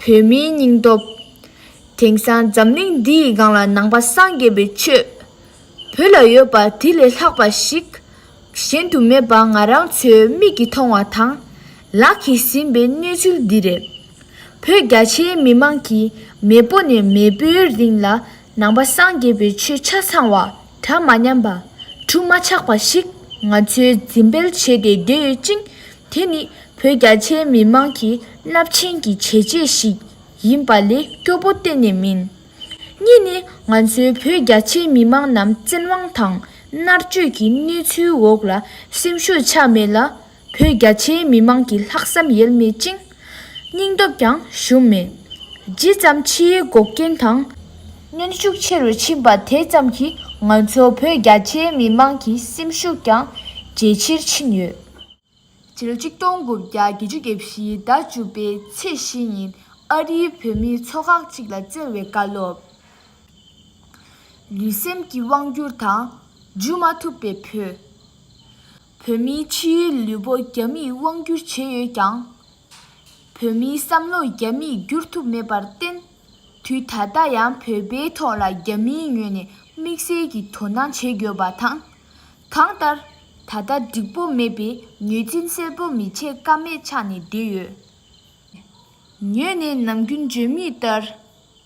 བོད་མིའི་སྙིང་སྟོབས། དེང་སང་འཛམ་གླིང་འདི་ཡི་སྒང་ལ་ནང་པ་སངས་རྒྱས་པའི་ཆོས། བོད་ལ་ཡོད་པ་དེ་ལས་ལྷག་པ་ཞིག་གཞན་དུ་མེད་པ་ང་རང་ཚོའི་མིག་གིས་མཐོང་བ་དང། ལག་གིས་ཟིན་པའི་གནས་ཚུལ་འདི་རེད། བོད་རྒྱ་ཆེའི་མི་མང་གིས་མེས་པོ་ནས་མེས་པོའི་རིང་ལ་ནང་པ་སངས་རྒྱས་པའི་ཆོས་ཆ་ཚང་བ། གྲངས་མ་ཉམས་པ། ཁྲུ་མ་ཆག་པ་ཞིག་ང་ཚོས་འཛིན་སྤེལ་བྱས་ཏེ་སྡོད་ཡོད་ཅིང། དེ་ནི་བོད་རྒྱ་ཆེའི་མི་དམངས་ཀྱི་རླབས་ཆེན་གྱི་བྱས་རྗེས་ཤིག་ཡིན་པ་ལས་སྐྱོ་པོ་གཏན་ནས་མིན། གཉིས་ནི་ང་ཚོའི་བོད་རྒྱ་ཆེའི་མི་དམངས་རྣམས་བཙན་དབང་དང་མནར་གཅོད་ཀྱི་གནས་ཚུལ་འོག་ལ་སེམས་ཤུགས་ཆག་མེད་ལ་བོད་རྒྱ་ཆེའི་མི་མང་གི་ལྷག་བསམ་ཡེལ་མེད་ཅིང། སྙིང་སྟོབས་ཀྱང་ཞུམ་མེད། ཇི་ཙམ་ཕྱིའི་འགོག་རྐྱེན་དང། གནོན་ཤུགས་ཆེ་རུ་ཕྱིན་པ་དེ་ཙམ་གྱིས་ང་ཚོ་བོད་རྒྱ་ཆེའི་མི་མང་གི་སེམས་ཤུགས་ཀྱང་ཇེ་ཆེར་ཕྱིན་ཡོད། སྤྱི་ལོ་ཆིག་སྟོང་དགུ་བརྒྱ་བརྒྱད་ཅུ་དགེ་བཞིའི་ཟླ་བཅུ་པའི་ཚེས་བཞི་ཉིན་ཨ་རིའི་བོད་མིའི་ཚོགས་ཁག་གཅིག་ལ་བསྩལ་བའི་བཀའ་སློབ། ལུས་སེམས་ཀྱི་དབང་བསྒྱུར་དང། འཇུ་མ་ཐུབ་པའི་བོད། བོད་མིའི་ཕྱི་ཡུལ་ལུས་པོ་རྒྱ་མིས་དབང་བསྒྱུར་བྱས་ཡོད་ཀྱང། བོད་མིའི་བསམ་བློ་རྒྱ་མིས་བསྒྱུར་ཐུབ་མེད་པར་བརྟེན། དུས་ད་ལྟ་ཡང་བོད་པའི་ཐོག་ལ་རྒྱ་མིའི་ངོས་ནས་དམིགས་བསལ་གྱི་དོ་སྣང་བྱེད་དགོས་པ་དང། གང་ལྟར། ད་ལྟ་འགྲིག་པོ་མེད་པས་ངོས་འཛིན་གསལ་པོ་མི་བྱེད་ཀ་མེད་ཆགས་ནས་བསྡད་ཡོད། ངོས་ནས་ནམ་རྒྱུན་བརྗོད་མུས་ལྟར།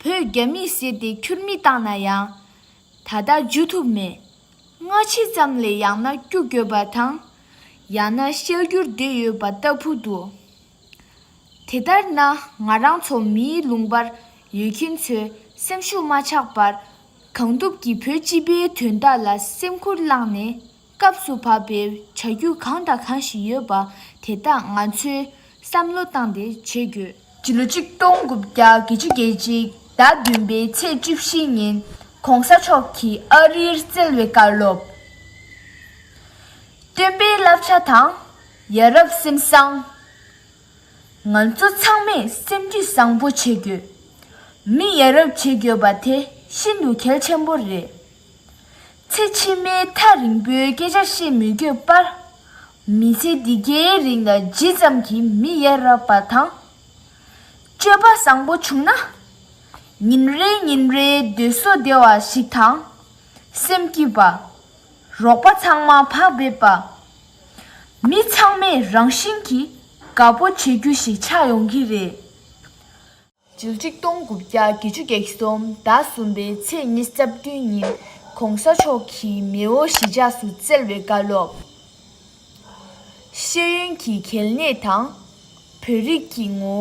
བོད་རྒྱ་མིས་བསད་དེ་ཁྱུར་མིད་བཏང་ན་ཡང། ད་ལྟ་འཇུ་ཐུབ་མེད། སྔ་ཕྱི་ཙམ་ལས་ཡང་ན་སྐྱུག་བསྐྱོད་པ་དང། ཡང་ན་ཤལ་སྐྱུར་བསྡད་ཡོད་པ་ལྟ་བུ་འདུག་དེ་ལྟར་ན་ང་རང་ཚོ་མིའི་ལུང་པར་ཡོད་མཁན་ཚོས་སེམས་ཤུགས་མ་ཆག་པར། གང་ཐུབ་ཀྱིས་བོད་སྤྱི་པའི་དོན་དག་ལ་སེམས་ཁུར་བླངས་ནས། སྐབས་སུ་བབ་པའི་བྱ་རྒྱུ་གང་དང་གང་ཞིག་ཡོད་པ་དེ་དག་ང་ཚོས་བསམ་བློ་བཏང་སྟེ་བྱེད་དགོས། སྤྱི་ལོ་ཆིག་སྟོང་དགུ་བརྒྱ་དགེ་བཅུ་རྒྱལ་སྤྱིའི་ཟླ་བདུན་པའི་ཚེས་བཅུ་བཞི་ཉིན ྋགོང་ས་མཆོག་གིས་ཨ་རིར་བསྩལ་བའི་བཀའ་སློབ། སྟོན་པའི་བསླབ་བྱ་དང་ཡ་རབས་སེམས་བཟང། ང་ཚོ་ཚང་མས་སེམས་རྒྱུད་བཟང་པོ་བྱེད་དགོས། མི་ཡ་རབས་བྱེད་དགོས་པ་དེ་ཤིན་ཏུ་གལ་ཆེན་པོ་རེད། ཚེ་ཕྱི་མའི་ཐག་རིང་པོའི་སྐད་ཆ་བཤད་མི་དགོས་པར། མི་ཚེ་འདི་གའི་རིང་ལ་ཇི་ཙམ་གྱིས་མི་ཡ་རབས་པ་དང། སྤྱོད་པ་བཟང་པོ་བྱུང་ན། ཉིན་རེ་ཉིན་རེའི་སྡོད་གསོ་བདེ་བ་ཞིག་དང། སེམས་སྐྱིད་པ། རོགས་པ་ཚང་མ་བག་ཕེབས་པ། མི་ཚང་མས་རང་བཞིན་གྱིས་དགའ་པོ་བྱེད་རྒྱུ་ཞིག་ཆགས་ཡོང་གི་རེད། ཇིལ་གཅིག་སྟོང་དགུ་བརྒྱ་དགེ་བཅུ་བགེགས་གསུམ་ཟླ་གསུམ་པའི་ཚེས་གཉིས་རྩ་བདུན་ཉིན་གོང་ས་མཆོག་གི་མེའོ་ཞི་འཇགས་སུ་བསྩལ་བའི་བཀའ་སློབ། ཤེས་ཡོན་གྱི་གལ་གནད་དང། བོད་རིགས་ཀྱི་ངོ་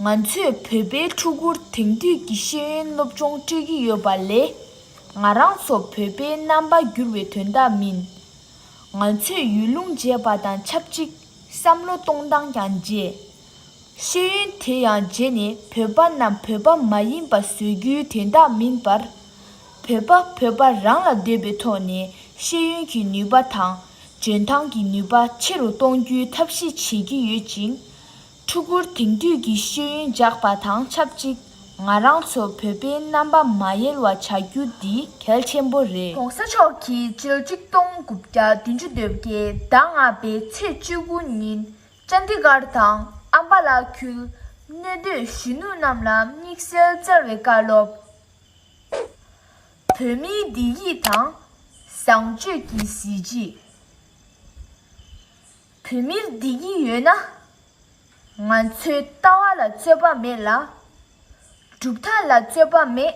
བོ། ང་ཚོས་བོད་པའི་ཕྲུ་གུར་དེང་དུས་ཀྱི་ཤེས་ཡོན་སློབ་སྦྱོང་སྤྲོད་ཀྱི་ཡོད་པ་ལས། ང་རང་ཚོ་བོད་པའི་རྣམ་པ་འགྱུར་བའི་དོན་དག་མིན། ང་ཚོས་ཡུལ་ལུང་བརྗེས་པ་དང་ཆབས་ཅིག་བསམ་བློ་གཏོང་སྟངས་ཀྱང་བརྗེས། ཤེས་ཡོན་དེ་ཡང་རྗེས་ནས་བོད་པ་རྣམས་བོད་པ་མ་ཡིན་པ་བཟོས་རྒྱུའི་དོན་དག་མིན་པར། བོད་པ་བོད་པ་རང་ལ་འདོད་པའི་ཐོག་ནས་ཤེས་ཡོན་གྱི་ནུས་པ་དང་འཇོན་ཐང་གི་ནུས་པ་ཆེ་རུ་གཏོང་རྒྱུའི་ཐབས་ཤེས་བྱེད་ཀྱི་ཡོད་ཅིང། ཕྲུ་གུར་དེང་དུས་ཀྱི་ཤེས་ཡོན་འཇགས་པ་དང་ཆབས་ཅིག་ང་རང་ཚོ་བོད་པའི་རྣམ་པ་མ་ཡལ་བ་བྱ་རྒྱུ་འདི་གལ་ཆེན་པོ་རེད། གོང་ས་མཆོག་གིས་ཕྱི་ལོ་ཆིག་སྟོང་དགུ་བརྒྱ་བདུན་ཅུ་དོད་བརྒྱད་ཟླ་ལྔ་པའི་ཚེས་བཅུ་དགུ་ཉིན་ཅཱ་ནྟི་གྷར་དང་ཨམ་བྷ་ལ་ཁུལ་གནས་སྡོད་གཞོན་ནུ་རྣམས་ལ་དམིགས་བསལ་བསྩལ་བའི་བཀའ་སློབ། བོད་མིའི་བདེ་སྐྱིད་དང་བཟང་སྤྱོད་ཀྱི་གཟི་བརྗིད། བོད་མིར་བདེ་སྐྱིད་ཡོད་ན། ང་ཚོའི་ལྟ་བ་ལ་རྩོད་པ་མེད་ལ། གྲུབ་མཐའ་ལ་རྩོད་པ་མེད།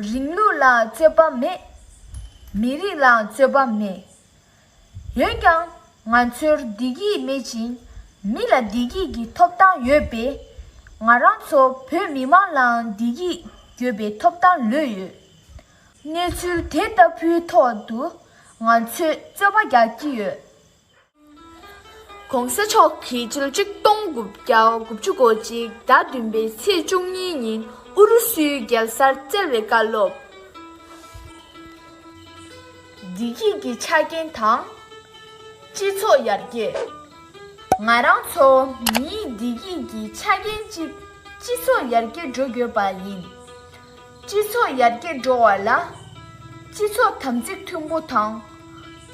རིང་ལུགས་ལ་རྩོད་པ་མེད། མི་རིགས་ལའང་རྩོད་པ་མེད། ཡོད་ཀྱང་ང་ཚོར་བདེ་སྐྱིད་མེད་ཅིང། མི་ལ་བདེ་སྐྱིད་ཀྱི་ཐོབ་ཐང་ཡོད་པས། ང་རང་ཚོ་བོད་མི་མང་ལའང་བདེ་སྐྱིད་དགོས་པའི་ཐོབ་ཐང་ལོས་ཡོད། གནས་ཚུལ་དེ་ལྟ་བུའི་ཐོག་ཏུ་ང་ཚོས་རྩོད་པ་རྒྱག་གི་ཡོད། གོང་ས་མཆོག་གིས་ཕྱི་ལོ་གཅིག་སྟོང་དགུ་བརྒྱ་དགུ་བཅུ་གོ་གཅིག་ཟླ་བདུན་པའི་ཚེས་བཅུ་གཉིས་ཉིན་ཨུ་རུ་སུའི་རྒྱལ་སར་བསྩལ་བའི་བཀའ་སློབ། བདེ་སྐྱིད་ཀྱི་ཆ་རྐྱེན་དང། སྤྱི་ཚོགས་ཡར་རྒྱས། ང་རང་ཚོ་མིའི་བདེ་སྐྱིད་ཀྱི་ཆ་རྐྱེན་གཅིག་སྤྱི་ཚོགས་ཡར་རྒྱས་འགྲོ་དགོས་པ་ཡིན། སྤྱི་ཚོགས་ཡར་རྒྱས་འགྲོ་བ་ལ། སྤྱི་ཚོགས་དམ་ཚིག་མཐུན་པོ་དང།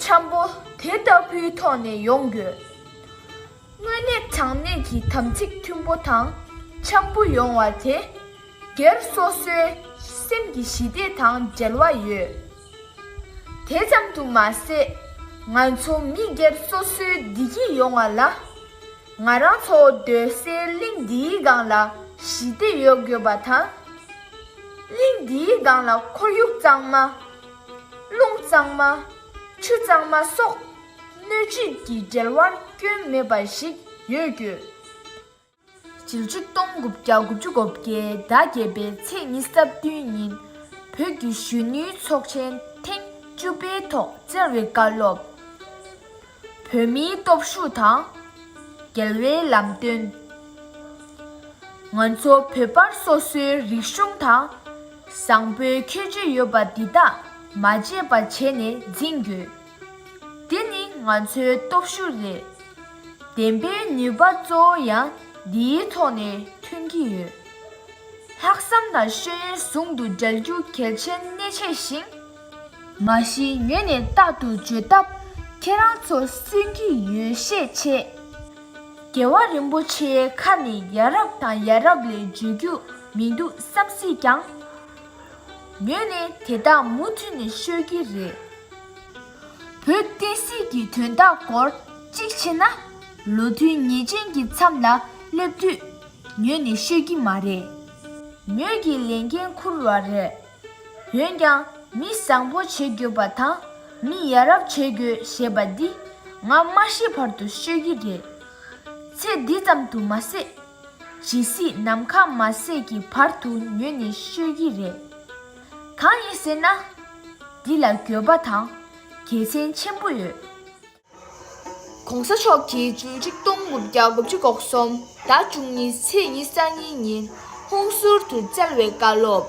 འཆམ་པོ་དེ་ལྟ་བུའི་ཐོག་ནས་ཡོང་དགོས། དངོས་གནས་དྲང་གནས་ཀྱི་དམ་ཚིག་མཐུན་པོ་དང་འཆམ་པོ་ཡོང་བ་དེ། སྒེར་སོ་སོའི་སེམས་ཀྱི་ཞི་བདེ་དང་འབྲེལ་བ་ཡོད། དེ་ཙམ་དུ་མ་ཟད། ང་ཚོ་མི་སྒེར་སོ་སོའི་བདེ་སྐྱིད་ཡོང་བ་ལ། ང་རང་ཚོ་སྡོད་སའི་གླིང་འདིའི་སྒང་ལ་ཞི་བདེ་ཡོད་དགོས་པ་དང། གླིང་འདིའི་སྒང་ལ་ཁོར་ཡུག་གཙང་མ། རླུང་གཙང་མ། ཆུ་གཙང་མ་སོགས་སྣོད་བཅུད་ཀྱི་འབྲེལ་བར་སྐྱོན་མེད་པ་ཞིག་ཡོད་དགོས། ཞེ་བཅུ་སྟོང་དགུ་བརྒྱ་དགུ་བཅུ་གོ་བརྒྱད་ཟླ་བརྒྱད་པའི་ཚེས་གཉིས་སྟབས་བསྟུན་ཉིན་བོད་བརྒྱུད་གཞོན་ནུའི་ཚོགས་ཆེན་ཐེངས་བཅུ་པའི་ཐོག་བཙན་རིག་བཀའ་སློབ། བོད་མིའི་སྟོབས་ཤུགས་དང། འགལ་བའི་ལམ་སྟོན། ང་ཚོ་བོད་པར་སོ་སོའི་རིག་གཞུང་དང། བཟང་པོའི་ཁྱད་ཆོས་ཡོད་པ་འདི་དག་མ་བརྗེད་པ་བྱས་ནས་འཛིན་དགོས། འདི་ནི་ང་ཚོའི་སྟོབས་ཤུགས་རེད། བདེན་པའི་ནུས་པ་གཙོ་བོ་ཡང་འདིའི་ཐོག་ནས་ཐོན་གྱི་ཡོད། ལྷག་བསམ་དང་ཤེས་ཡོན་ཟུང་དུ་སྦྲེལ་རྒྱུ་གལ་ཆེན་གནད་ཆེ་ཞིང། མ་གཞི་ངས་ནས་རྟག་ཏུ་བརྗོད་སྟབས་ཁྱེད་རང་ཚོ་སུན་གྱི་ཡོད་ཤས་ཆེ། རྒྱལ་བ་རིན་པོ་ཆེའི་ཁ་ནས་ཡ་རབས་དང་ཡ་རབས་ལས་བརྗོད་རྒྱུ་མི་འདུག་བསམ་སྲིད་ཀྱང། ངས་ནི་དེ་དག་མུ་མཐུད་ནས་ཤོད་ཀྱི་རེད། བོད་བསྟན་སྲིད་ཀྱི་དོན་དག་སྐོར་གཅིག་བྱས་ན། ལོ་མཐུན་ཉེས་ཅན་གྱི་མཚམས་ལ་སླེབས་དུས། ངས་ནི་ཤོད་ཀྱི་མ་རེད། ངོས་ཀྱི་ལས་འགན་འཁུར་བ་རེད། འོན་ཀྱང་མི་བཟང་པོ་བྱེད་དགོས་པ་དང་མི་ཡ་རབས་བྱེད་དགོས་ཞེས་པ་འདི་ང་མ་ཤི་བར་དུ་ཤོད་ཀྱི་རེད། ཚེ་འདི་ཙམ་དུ་མ་ཟད། ཇི་སྲིད་ནམ་མཁའ་མ་བསྲེགས་ཀྱི་བར་དུ་མྱོས་ནས་ཤོད་ཀྱི་རེད། གང་ཡིན་ཟེར་ན། འདི་ལ་འགྱོད་པ་དང་དགེ་མཚན་ཆེན་པོ་ཡོད། གོང་ས་མཆོག་གིས་བཅུ་གཅིག་སྟོང་དགུ་བརྒྱ་དགུ་བཅུ་གོ་གསུམ་ཟླ་བཅུ་གཉིས་ཚེས་ཉི་ས་གཉིས་ཉིན་ཧུང་ཟུར་དུ་བསྩལ་བའི་བཀའ་སློབ།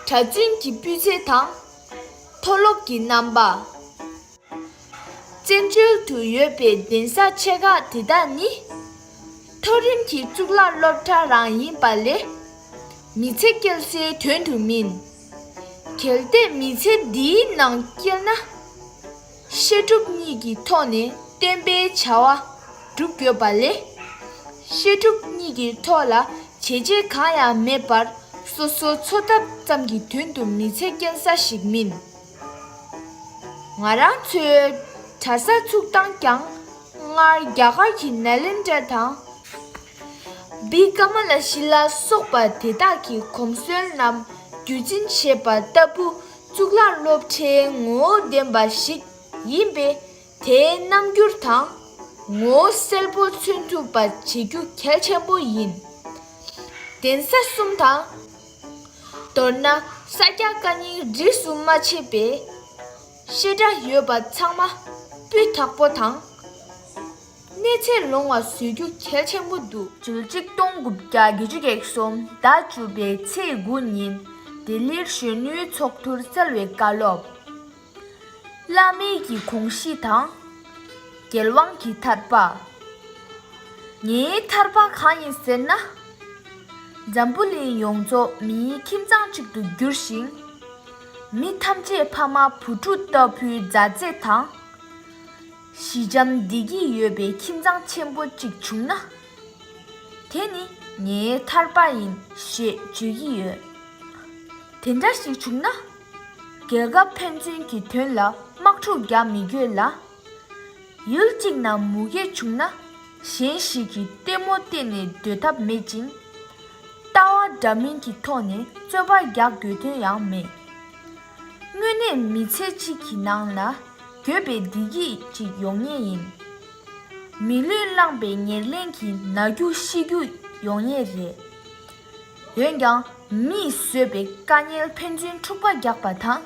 གྲྭ་བཙུན་གྱི་སྤུས་ཚད་དང། མཐོ་སློབ་ཀྱི་རྣམ་པ། བཙན་བྱོལ་དུ་ཡོད་པའི་གདན་ས་ཆེ་ཁག་དེ་དག་ནི། མཐོ་རིམ་གྱི་གཙུག་ལག་སློབ་གྲྭ་རང་ཡིན་པ་ལས། མི་ཚེ་སྐྱེལ་སའི་དོན་དུ་མིན། གལ་ཏེ་མི་ཚེ་འདིའི་ནང་སྐྱེལ་ན། བཤད་སྒྲུབ་གཉིས་ཀྱི་ཐོག་ནས་བསྟན་པའི་བྱ་བ་སྒྲུབ་དགོས་པ་ལས། བཤད་སྒྲུབ་གཉིས་ཀྱི་ཐོག་ལ་བྱས་རྗེས་གང་ཡང་མེད་པར་སོ་སོའི་འཚོ་ཐབས་ཙམ་གྱི་དོན་དུ་མི་ཚེ་སྐྱེལ་ས་ཞིག་མིན། ང་རང་ཚོའི་གྲྭ་ས་ཚུགས་སྟངས་ཀྱང་སྔར་རྒྱ་གར་གྱི་ནཱ་ལེནྡྲ་དང། བི་ཀ་མ་ལ་ཤི་ལ་སོགས་པ་དེ་དག་གི་གོམས་སྲོལ་རྣམས་རྒྱུད་འཛིན་བྱས་པ་ལྟ་བུ་གཙུག་ལག་སློབ་གྲྭའི་ངོ་བོ་ལྡན་པ་ཞིག་ཡིན་པས་དེའི་རྣམ་འགྱུར་དང། ངོ་བོ་གསལ་པོ་མཚོན་ཐུབ་པ་བྱེད་རྒྱུ་གལ་ཆེན་པོ་ཡིན། གདན་ས་གསུམ་དང། མདོར་ན་ས་སྐྱ་བཀའ་རྙིང་རིས་སུ་མ་ཕྱེས་པའི་བཤད་གྲྭ་ཡོད་པ་ཚང་མ་སྤུས་དག་པོ་དང། གནས་ཚད་ལོང་བ་བཟོ་རྒྱུ་གལ་ཆེན་པོ་འདུག། བཅུ་གཅིག་སྟོང་དགུ་བརྒྱ་བརྒྱད་ཅུ་བརྒྱད་གསུམ་ཟླ་བཅུ་པའི་ཚེས་དགུ་ཉིན་ལྡི་ལིར་གཞོན་ནུའི་ཚོགས་འདུར་གསལ་བའི་བཀའ་སློབ། བླ་མེད་ཀྱི་གོང་བཞི་དང། རྒྱལ་དབང་གི་ཐར་པ། ངའི་ཐར་པ་གང་ཡིན་ཟེར་ན། འཛམ་བུ་གླིང་ཡོངས་རྫོགས་མིའི་ཁྱིམ་ཚང་གཅིག་ཏུ་འགྱུར་ཞིང། མི་ཐམས་ཅད་ཕ་མ་བུ་ཕྲུག་ལྟ་བུའི་མཛའ་བརྩེ་དང། ཞི་འཇམ་བདེ་སྐྱིད་ཡོད་པའི་ཁྱིམ་ཚང་ཆེན་པོ་གཅིག་བྱུང་ན། དེ་ནི་ངའི་ཐར་པ་ཡིན་ཞེས་བརྗོད་ཀྱི་ཡོད། དེ་འདྲ་ཞིག་བྱུང་ན། རྒྱལ་ཁབ་ཕན་ཚུན་གྱི་དོན་ལ་དམག་འཁྲུག་རྒྱག་མི་དགོས་ལ། ཡུལ་གཅིག་ན་མུ་གེ་བྱུང་ན་གཞན་ཞིག་གིས་ལྟད་མོ་བལྟས་ནས་སྡོད་ཐབས་མེད་ཅིང། ལྟ་བ་འདྲ་མིན་གྱི་ཐོག་ནས་རྩོད་པ་རྒྱག་དགོས་དོན་ཡང་མེད། དངོས་གནས་མི་ཚེ་གཅིག་གི་ནང་ལ་འགྱོད་པའི་བདེ་སྐྱིད་ཅིག་ཡོང་ངེས་ཡིན། མི་ལུས་བླངས་པའི་ཉེར་ལེན་གྱི་ན་རྒྱུ་ཤི་རྒྱུ་ཡོང་ངེས་རེད། འོན་ཀྱང་མིས་བཟོས་པའི་དཀའ་ཉེན་ཕན་ཚུན་འཁྲུག་པ་རྒྱག་པ་དང།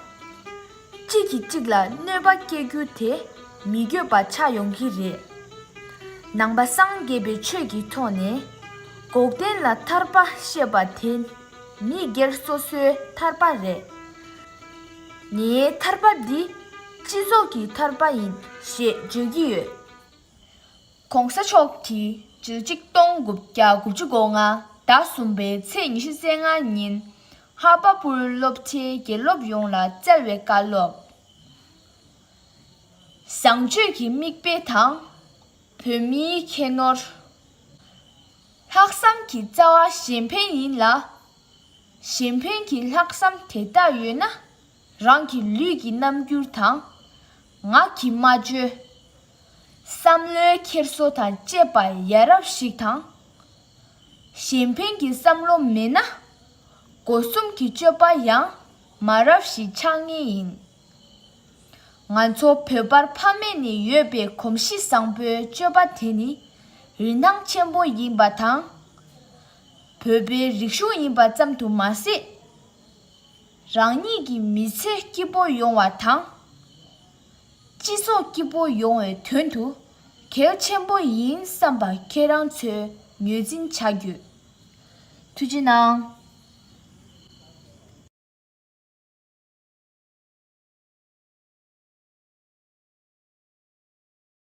གཅིག་གིས་གཅིག་ལ་གནོད་པ་སྐྱེལ་རྒྱུ་དེ་མི་དགོས་པ་ཆགས་ཡོང་གི་རེད། ནང་པ་སངས་རྒྱས་པའི་ཆོས་ཀྱི་ཐོག་ནས་འགོག་བདེན་ལ་ཐར་པ་བཤད་པ་དེ་མི་སྒེར་སོ་སོའི་ཐར་པ་རེད། ངའི་ཐར་པ་འདི་སྤྱི་ཚོགས་ཀྱི་ཐར་པ་ཡིན་ཞེས་བརྗོད་ཀྱི་ཡོད། ྋགོང་ས་མཆོག་གིས་ཇི་ལོ་ཆིག་སྟོང་དགུ་བརྒྱ་དགུ་བཅུ་དགུ་ལྔ་ཟླ་གསུམ་པའི་ཚེས་ཉི་ཤུ་ཚེས་ལྔ་ཉིན་ཧ་པ་པུར་སློབ་གྲྭའི་དགེ་སློབ་ཡོངས་ལ་སྩལ་བའི་བཀའ་སློབ། བཟང་སྤྱོད་ཀྱི་མིག་དཔེ་དང། བོད་མིའི་ཁྱད་ནོར། ལྷག་བསམ་གྱི་རྩ་བ་གཞན་ཕན་ཡིན་ལ། གཞན་ཕན་གྱི་ལྷག་བསམ་དེ་དག་ཡོད་ན། རང་གི་ལུས་ཀྱི་རྣམ་འགྱུར་དང། ངག་གི་སྨྲ་བརྗོད། བསམ་བློའི་འཁྱེར་བཟོ་དང་བཅས་པ་ཡ་རབས་ཤིག་དང། གཞན་ཕན་གྱི་བསམ་བློ་མེད་ན། སྒོ་གསུམ་གྱི་སྤྱོད་པ་ཡང་མ་རབས་ཤིག་ཆགས་ངེས་ཡིན། ང་ཚོ་བོད་པར་ཕ་མེས་ནས་ཡོད་པའི་གོམས་གཤིས་བཟང་པོའི་སྤྱོད་པ་དེ་ནི་རིན་ཐང་ཆེན་པོ་ཡིན་པ་དང། བོད་པའི་རིག་གཞུང་ཡིན་པ་ཙམ་དུ་མ་ཟད། རང་ཉིད་ཀྱི་མི་ཚེ་སྐྱིད་པོ་ཡོང་བ་དང། སྤྱི་ཚོགས་སྐྱིད་པོ་ཡོང་བའི་དོན་དུ་གལ་ཆེན་པོ་ཡིན་བསམ་པ་ཁྱེད་རང་ཚོས་ངོས་འཛིན་བྱ་རྒྱུ། ཐུགས་རྗེ་གནང།